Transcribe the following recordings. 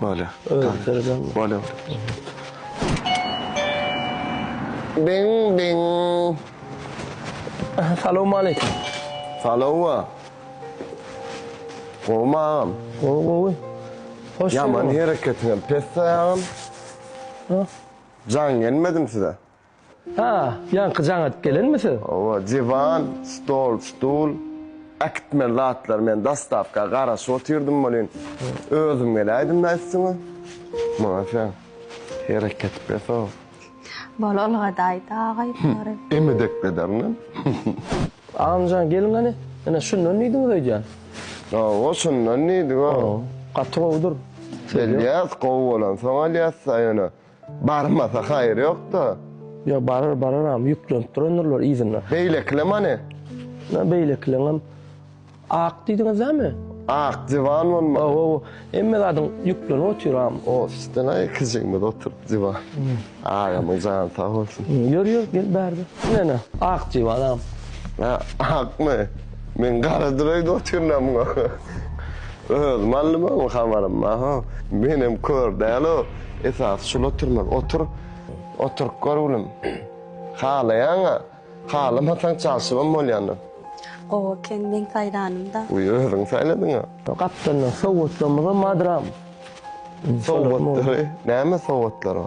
Bolýa. Bolýa. Biň biň. Salowmaleýkim. Salowa. Gowmy agam? Gowy gowy. Hoş geldiň. Ýaman hereketiňem pes taýagym. Jan gelmedim size. Ha, ýaňky jaň atyp gelenmi siz? Hawa, diwan, stol, stul, äkitmeli zatlar men dostawka garaşyp otyrdym welin, özüm geläýdim-dä üstüňe. Muňa sen hereket beso. Bol Olga daýza agaý bulary. Emedek bederini. Agam jan geliň gani. Ine şundan diýdiňiz öýdýän. Hawa, şundan diýdik-ow. Gaty gowudyr. Söz ýok. Elýas gowy bolansoň alýas-da ýöne Barmasa haýyr ýok-da. Ýa barar, bararam, ýüklenip durandyr-lar yzyna. Beýlekilem hany? Ýa beýlekileňem ak diýdiňiz-dämi? Ak, diwan bolmaly. Hawa-hawa, hemme zadyň ýüklenip otyram. Ofisden-ä iki jigimiz oturyp diwan. Agamyň jany sag bolsun. Ýör, ýör, gel bärde. Ine-ne, ak diwanam. Hä, akmy? Men garadyr öýde otyryn-a muňa. Öz malymam habarym bar ho. Menem kör dälo. Esasy şul oturman otur. Oturyp gör gülüm. Halaýaňa. Halamasaň çalşybam bolýandyr. Gowy eken men saýlanym-da. Uý özüň saýladyňa. Gapdaldan sowgatlamyzam madram. Sowgatlary näme sowgatlary?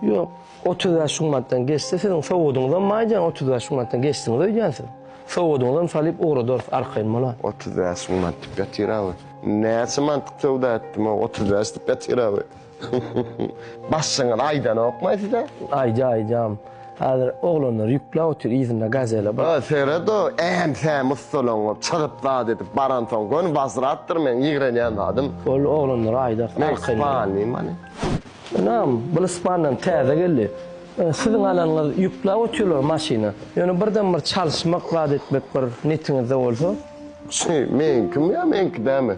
Ýok. Otuz bäş gün mantdan geçse siziň sowgadyňyzam maýdan otuz bäş gün mantdan geçdiňiz öýdýän siz. Sowgadyňyzam salyp ugradarys arkaýyn bola. Otuz bäş gün mant dip ýatyr awy. Näçe mantlyk söwda etdim o otuz bäş dip ýatyr awy. Başlygyňyz aýdanokmaý size? Aýdýa aýdýam. Häzir oglanlar ýükläp otyr yzynda gazele bar. Ýa seret o äm-säm ussalaňyp çyzyp zat edip baransoň göni wazratdyr meň ýigrenýän zadym. Boldy oglanlara aýdarys arkaýyn. Men spalnyman. Ynam, bul Ispandan täze geldi. Siziň alanyňyz ýükläp otyrlar maşyna. Ýöne birden bir çalyşmak zat etmek bir netiňizde bolsa. Şy, meniňkimi ýa meňki dälmi?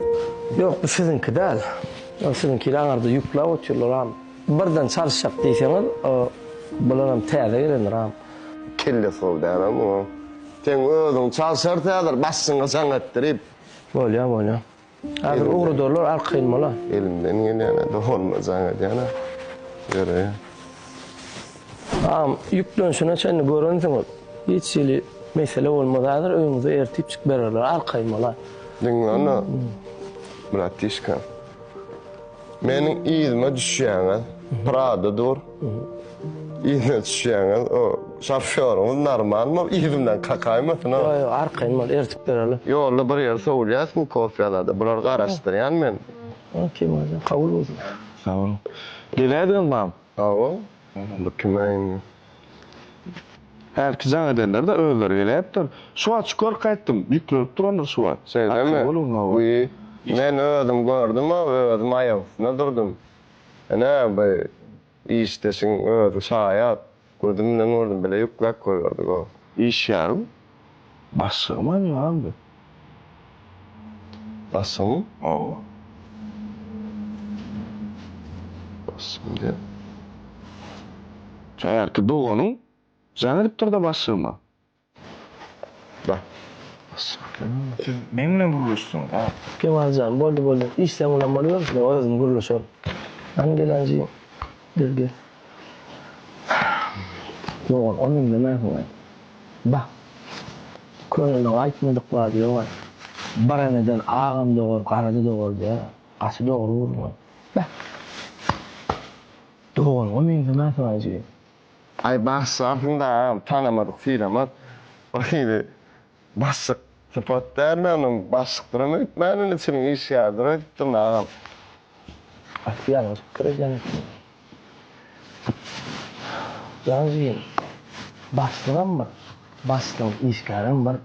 Ýok, bu siziňki däl. Ol siziňkini aňyrda ýükläp otyrlar am. Birden çalyşjak diýseňiz, bularam täze gelendir am. Kelle sow däl a muňam. Seň özüň çalyşarys häzir, başyňy jaň etdirip. Bolýar, bolýar. Hazir ugrudarlar arkaýyn bola. Elimden gelýäne dolanyna jaň edýäne ýöreýä. Agam ýüklenişine çenli görensiň ol. Hiç hili mesele bolmaz hazir öýüňize ertip çyk bererler arkaýyn bola. Diňle onda bratişka. Meniň yzyma düşýäňiz, Prada dur. Yzyna düşýäňiz, o şofýoryňyz normal bol, yzymdan kakaýmasyn o. Ýok, ýok, arkaýyn bol, eltip bereli. Ýolda bir ýer sowulýas Smukowýalada, bulary garaşdyrýan men. Ol kim özem? Kabul bolsun. Sag boluň. Geleýdiňizmam? Sag bol. Bu kime indi? Häzirki jaň edenler-de özleri geläýipdir. Şu wagt şükür gaýtdym. Ýüklenip durandyr şu wagt. Seýdemmi? Bu men özüm gördüm-ä, özüm aýak üstünde durdum. Ine, bu işdeşiň özi şaýat. Gözüm bilen gördüm, bile ýükläp goýberdi, goh. Işýärin. Başygym hem ýaldy. Başygym oba. Başygym diýip. Häzirki doganyň jaň edipdir-de başygyma. Ba. Başygym. Siz meň bilen gürleşseňiz, a? Kemal jan, boldy, boldy. Işleň bilen bolýar, men özüm gürleşerin. Hany gelenji. Dürdi. Dogan, ony iňlemersiň-ä. Bah, köneler aýtmadyk zady ýog-a. Bir eneden agam dogar, garaz-a dogar diýýär. Gaty dogry gürrüň. Bah! Doganyňam meňzemersiň-ä jigim. Aý, bagşy, aslynda agam tanamadyk-synamak bir hili. Bassyk sypat dälmi onuň basykdyram öýtmänin içini işgärdir öýtdüm agam. Aty ýalňyşypdyr ejeň üçin. Jan jigim bassygam bir bassyň işgärem bir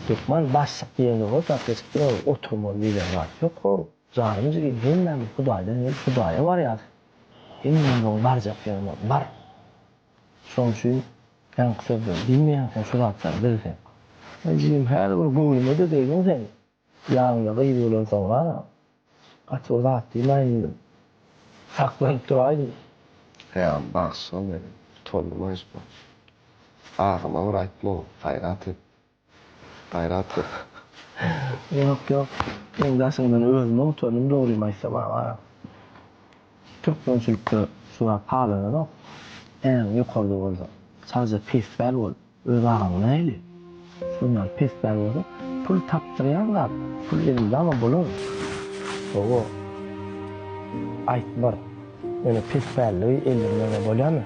hökman bassyk diýen zada gapleşikdir ol oturmaly diýlen zat ýok hov janym jigim hemmämiz hudaýdan gelip hudaýa barýas hemmämiziň barjak ýerimiz bar. Şoň üçin ýaňky sözleri diýmeýänsiň şu zatlary bil sen. Eý jigim häli bir göwnüme degeýdiň sen. Ýanyňda gyz bolansoňa gaty bir zat diýmäýin diýdim. Saklanyp duraýdym. Haýal bagsy şol meniň. Utandym-aý şu bagsy. Agama bir aýtma ol, gaýrat et. Gaýrat gör. Ýok ýok. Seň daşyňdan özümem utandym dogrymy aýtsam aga. Türkmençilikde şu zat halananok. Äň ýokarda bolsa sagja pespäl bol. Öz agaň nähili? Şuň ýaly pespäl bolsa pul tapdyrýan zat. Pul elindama bolar. Gowy. Aýt bir. Ýöne pespälligi eldirmäge bolýamy?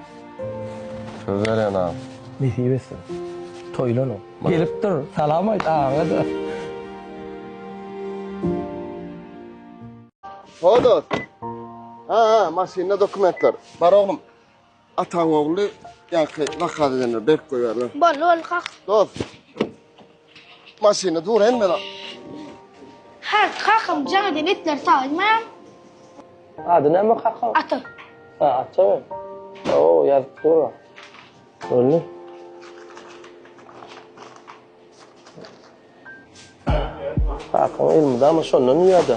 Söz berýän agam. Nesip etsin. Toýlanyň. Gelip dur, salam aýt agaňa-da. Ho dost. Ha ha maşynda dokumentler. Bar oglum. Ataň ogly ýaňky zakaz edenler berip goýberler. Boldy boldy kak. Dost. Maşyny dur hemme zat. Her kakam jaň edip etler saýmaýan. Ady näme kakaň? Ata. Ha, ata. Oo, ýazyp dur. Öldü. Kakaň elmydama şondan ýa-da.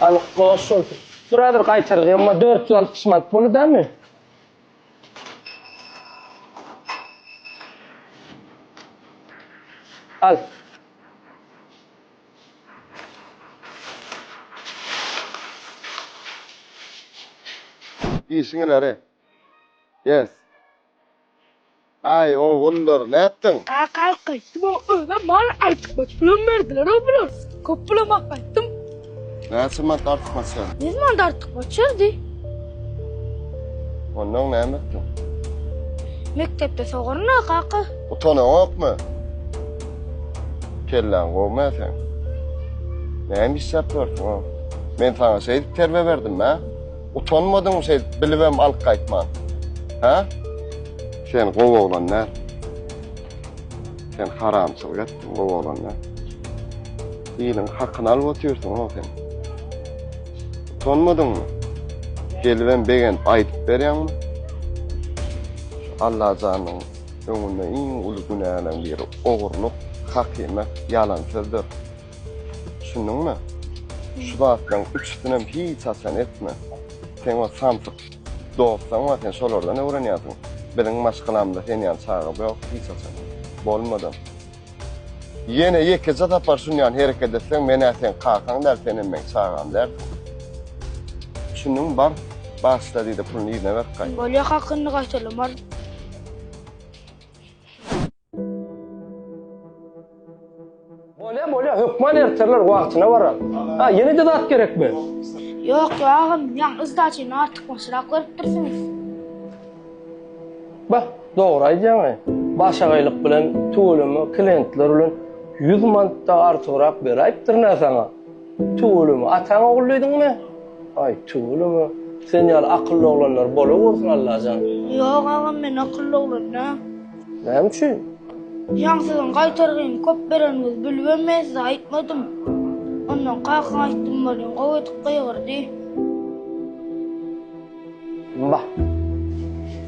Al goş şolsun. Dur hazir gaýtarys emma dört ýüz altmyş manat boly damy? Al. Işiňe nare. Yes. Aý ogullar nätdiň. Kakam gaýtdy maňa özem mal artykmaç pulam berdileroo bular köp bulama gaýtdym. Näçe mant artykmaç ýaz. Ýüz mant artykmaç ýazdy. Onnoň näme etdiň. Mekdepde sogarynda kaka. Utanaňokmy? Kelläň gowmä seň. Näme işläp ýörsiňoo. Men saňa şeýdip terbe berdim mä. Utanmadyňmy şeýdip bilibem alyp gaýtman? Hä? Sen gowy oglan däl. Sen haramçylyk etdiň, gowy oglan däl. Iliň hakyny alyp otyrsyň-ow sen. Utanmadyňmy? Gelibem begenip aýdyp berýäňmi? Allajanyň öňünde iň uly günäleň biri ogurlyk, hakyna ýalan sözdür. Düşündiňmi? Şu zatlaryň üçüsinem hiç haçan etme. Sen o samsyk dostlaň bar, sen şolardan öwrenýärsiň. Biziň maşgalamyzda sen ýaly çaga ýok hiç haçan. Bolmadam. Ýene ýekeje sapar şun ýaly hereket etseň, men-ä seň kakaň däl, senem meň çagam dälsiň. Düşündiňmi, bar, bagyşla diý-de, puluny yzyna berip gaýt. Bolýa, hakyny gaýtalamar. Bolýa bolýa hökman ertirler wagtyna barar. Ha ýene de zat gerekmi? Ýok ýa agam ýaň yzdaçyny artyk başrak görüpdirsiňiz. Bah dogry aýdýaňaý. Başagaýlyk bilen tüweleme klientler bilen ýüz mantda artygrak beräýipdir nä saňa. Tüweleme, ataň ogullydyňmy? Aý, tüweleme, sen ýaly akylly oglanlar bolawersin Allajan. Ýok, agam, men akylly oglan däl. Näme üçin? Jan siziň gaýtargyny köp bereniňizi bilibem men size aýtmadym. Ondan kakaň aýtdym welin gowy edip gygyrdy. Wah.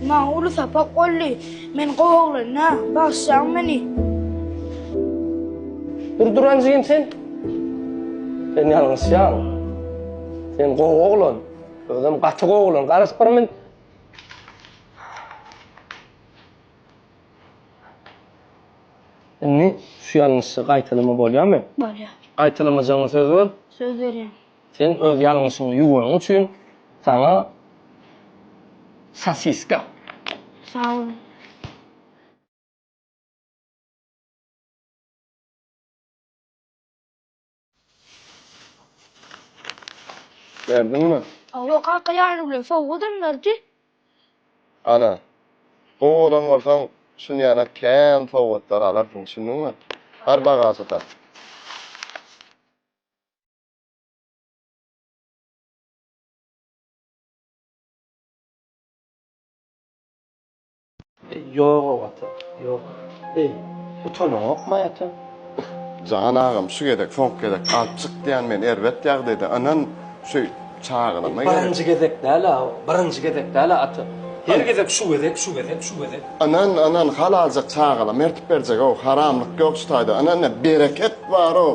Maňa uly sapak boldy. Men gowy oglan-a, bagyşlaň meni. Dur duran jigim sen. Sen ýalňyşýaň. Sen gowy oglan. Özem gaty gowy oglan. Garaşyp bir men. Indi şu ýalňyşy gaýtalama bolýamy? Bolýar. Gaýtalamajagyňa söz ber. Söz berýän. Sen öz ýalňyşyňy ýuwanyň üçin saňa sosiska. Sag boluň. Berdiňmi? Hawa kaka ýary bilen sowgadam berdi. Ana, gowy bolan bolsaň şun ýaly kän sowgatlar alarsyň, düşündiňmi? Bar bagaža sal. Ýog-ow ata, ýok. Eý, utanaňokmy ata? Jan agam, şu gezek, soňky gezek alyp çyk diýýän men erbet ýagdaýda. Ynyn, şu çagylama gerek. Birinji gezek däl-ä o, birinji gezek däl-ä ata. Her gezek şu gezek, şu gezek, şu gezek. Ynyn, ynyn, halaljyk çagylama ertip berjeg-ow. Haramlyk ýok şu taýda. Ynyn, bereket bar-ow.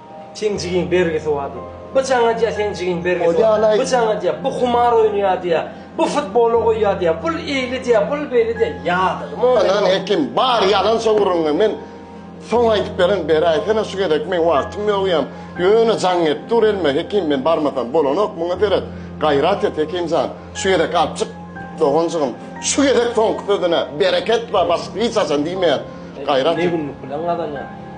Seň jigiň bergisi bar diýip. Bu jaň edýär seň jigiň bergisi bar. Bu jaň edýär, bu humar oýnaýar diýär. Bu futbola goýýar diýär. Bul eýli diýär, bul beýli diýär. Ýadygymy onda ýok. Anan hekim bar ýalan sowruňy men soň aýdyp beren beräýsene şu gezek meň wagtym ýok ýam ýöne jaň edip dur elime hekim men barmasam bolanok muňa seret gaýrat et hekimjan şu gezek alyp çyk doganjygym şu gezek soňky sözüne bereket bar başga hiç haçan diýmeýän gaýrat et. Ne günlük bilen gazanýar.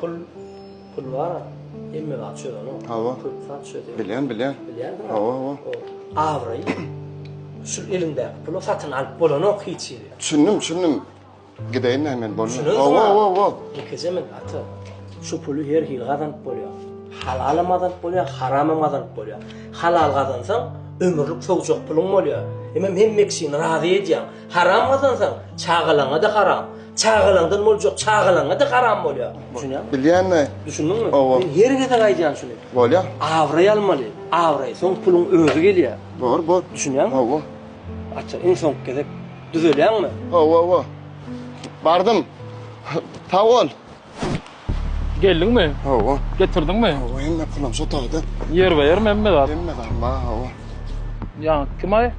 Pul, pul bar, hemme zat çözeni. Hawa. Köp zat çözýär. Bilýän, bilýän. Bilýän. Hawa, hawa. Awraý. Şu eliňdäki pulu satyn alyp bolanok hiç ýeri. Düşündim, düşündim. Gideýin näme men bolmaz. Hawa, hawa, hawa. Ýekeje men ata. Şu puly her hili gazanyp bolýar. Halalam gazanyp bolýar, haramam gazanyp bolýar. Halal gazansaň, ömürlik sowjak puluň bolýar. Hemem hemme kişini razy edýäň. Haram gazansaň, çagalaňa-da haram. Çagalaňdan boljak çagalaňa-da haram bolýar. Düşünýäňmi? Bilýän-de. Düşündiňmi? Hawa. Men her gezek aýdýan şuny. Bolýar. Abraý almaly. Abraý, soň puluň özi gelýär. Bor, bor. Düşünýäňmi? Hawa. Ata, iň soňky gezek düzelýäňmi? Hawa, hawa. Bardym. Sag bol. Geldiňmi? Hawa. Getirdiňmi? Hawa, hemme pulam şu otagda. Ýerbe-ýermi hemme zat? Hemme zat bar, hawa. Ýaňky kim-aý?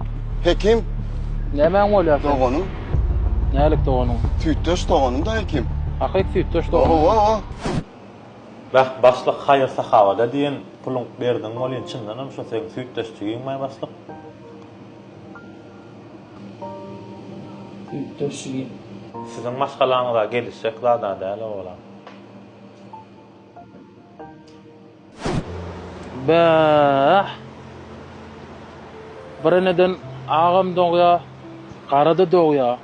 Hekim. Nämäň bolýar seniň? Doganym. Nälik doganyň? Süýtdeş doganym-da Hekim. Ahyk süýtdeş doganyň. Hawa, hawa. Beh, başlyk, haýyr-sahawada diýen puluň berdiň welin, çyndanam şo seň süýtdeş jigiňmaý, başlyk? Siziň maşgalaňyza gelişjek zada däl owalam. Bäh! Bir eneden agam dogýa, gara-da dogýa.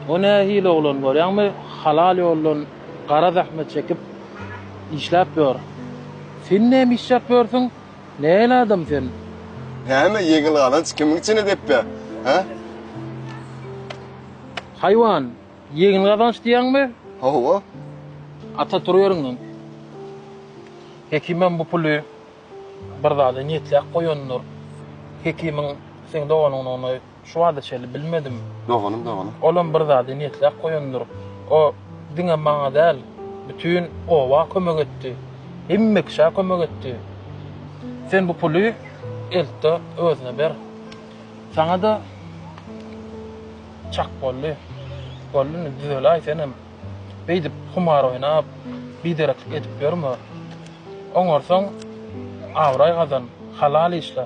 O nähili oglan görýäňmi, halal ýoldan gara zähmet çekip işläp ýör. Sen näme işläp ýörsüň? Nähili adam sen? Näme ýeňil galanç kimiň içine depbe, hä? Haýwan, ýeňil gazanç diýýäňmi? Hawa. Ata tur ýeriňden. Hekimem bu puly bir zada niýetläp goýandyr. Hekimiň seň doganyňdygyny Şu wada çenli bilmedim. Doganym, doganym. Olam bir zady niýetläp goýandyr. O diňe maňa däl, bütin oba kömek etdi. Hemme kişä kömek etdi. Sen bu puly eltde özüne ber. Saňa-da çak boldy. Boldy indi düzeläý senem. Beýdip humar oýnap, bidereklik edip ýörme. Oňarsaň abraý gazan, halal işle.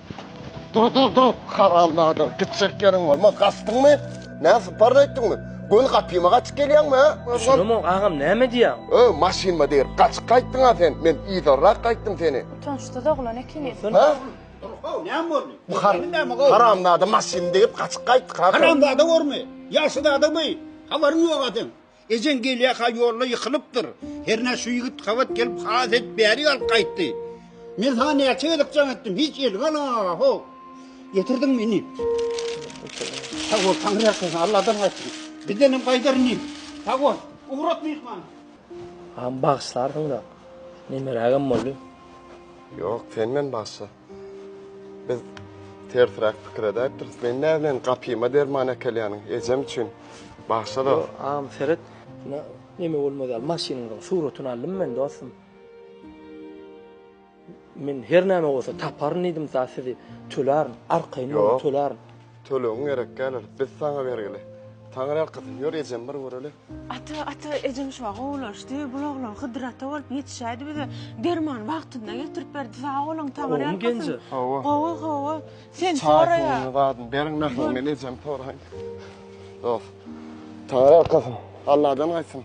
Dur dur dur haram nadir gitjek ýeriň bolmaz gaçdyňmy näme sypar etdiňmi göni gapyma gaçyp gelýäňmi hä? Düşünemok agam näme diýýäň. Öý maşynma degir gaçyp gaýtdyňa sen men yzarrak gaýtdym seni. Utançsyz oglan ekeniň. Hä? Dur how näme boldy? Bu haram nadir maşynymy degip gaçyp gaýtdyk ha. Haramzada görme ýaşyzada bu habaryň ýoga seň. Ejeň gelýä-ha ýolda ýykylypdyr. Hernä şu ýigit gabat gelip has edip bärik alyp gaýtdy. Men saňa näçe gezek jaň etdim, hiç elňe alňaňa, ho! Getirdiň mi indi? Sag bol, Taňry ýalkasyn, Alladan gaýtdyň. Bizdenem gaýdar indi. Sag bol, ugrat myhman. Agam bagyşlarsyň-da. Nemerägem boldy. Ýok, sen meni bagyşla. Biz tersräk pikir edäýipdiris. Men näbilen gapyma derman äkelýäniň ejem üçin. Bagşa-da. Ýo, agam seret. Şuna neme bolmaz ýaly maşynyňyzyň suratyny aldym men dostum. Men her näme bolsa taparyn diýdim mysal sizi tölärin, arkaýyn boluň tölärin. Ýok, tölegin gerek däldir. Biz saňa bergili. Taňyrýalkasyn ýör ejem bir göreli. Ata, ata, ejeň şu wagt gowulaşdy. Bul oglan Hydyr ata bolup ýetişäýdi bize. Dermany wagtynda getirip berdi. Sag boluň, Taňry Gowymy ýalkasyn. Genje? Gowy. Gowy, gowy. Sen Çaý soraýa. suwuny zadyny beriň nahal men ejemi soraýyn. Dost. Taňry ýalkasyn. Alladan gaýtsyn.